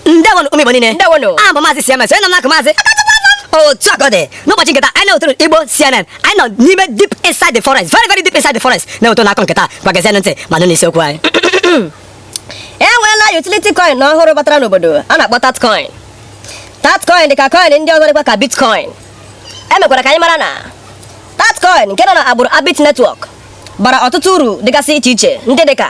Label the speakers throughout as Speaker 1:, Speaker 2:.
Speaker 1: ndewonu ụmụ igbo niile ndewonu abụ m maazị
Speaker 2: cms onye
Speaker 1: nọ n'akụkụ m maazị otu a ka ọ dị n'ụbọchị nke taa anyị na-ewetara unu igbo cnn anyị nọ n'ime deep inside the forest very very deep inside the forest na-ewetara unu akụkọ nke taa ngwa gezienụ ntị ma nụ n'isiokwu anyị e
Speaker 2: nweela utility coin ọhụrụ batara n'obodo a na-akpọ tatcoin tatcoin dị ka coin ndị ọzọ dịkwa ka bitcoin e mekwara ka anyị mara na tatcoin nke nọ na agbụrụ abit network bara ọtụtụ uru dịgasị iche iche ndị dị ka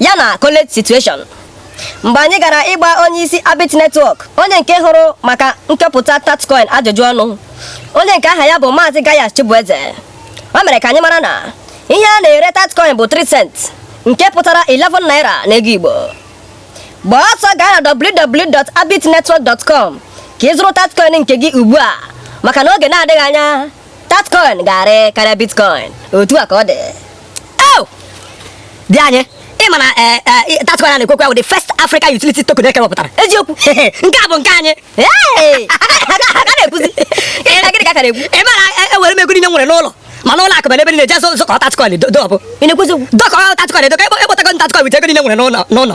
Speaker 2: ya na college situation mgbe anyị gara ịgba onye isi Abit Network onye nke hụrụ maka nkepụta Tatcoin ajụjụ ọnụ onye nke aha ya bụ Maazị Gaius Chibueze o mere ka anyị mara na ihe a na-ere Tatcoin bụ 3 cent nke pụtara 11 naira n'ego Igbo gbaa ọsọ gaa na www.abitnetwork.com ka ị zụrụ Tatcoin nke gị ugbu a maka na oge na-adịghị anya Tatcoin ga-arị karịa Bitcoin otu a ka ọ
Speaker 1: dị di anyị ị ma na eh, eh, Tatcoin a na-ekwukwa bụ the first African utility token e kewapụtara eziokwu nke
Speaker 2: a bụ nke
Speaker 1: anyị
Speaker 2: na-ekwuzi gịnị ka a ka na-ekwu ị ma na ewere eh, m
Speaker 1: ego niile nwere n'ụlọ ma n'ụlọ akụ ebe niile jee zụkọọ tatcoin dọbe dọkọ
Speaker 2: tatcoin dọkọ
Speaker 1: ekpotago tatcoin with ego niile nwere n'ụlọ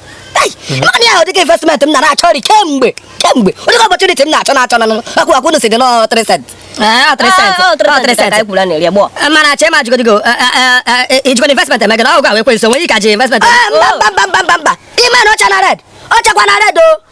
Speaker 1: naanị ahụ dịka investment m na-achọrị kemgbe kemgbe onye ka opportunity m na-achọ na-achọ na akwụ akwụ si dị nọ 3 cent mana achọ ịma jigodigo ijikọ investment eme gị na ọgụ a wee kwe nso nwere ike aji investment mba mba mba mba ime na ọcha na red ọchakwa na red o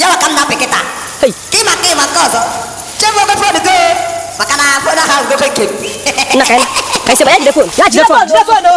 Speaker 3: yawa ka m na-apị kịta Hey. ka ịma nke ịma nke ọzọ chebe obe fon go maka na
Speaker 2: fon ahụ ahụgobe nke
Speaker 3: m
Speaker 2: Nna ka anyị
Speaker 3: ka anyị
Speaker 2: sebe ya jide
Speaker 3: fon.
Speaker 2: Ya jide fon.
Speaker 3: Jide
Speaker 2: fon
Speaker 3: o.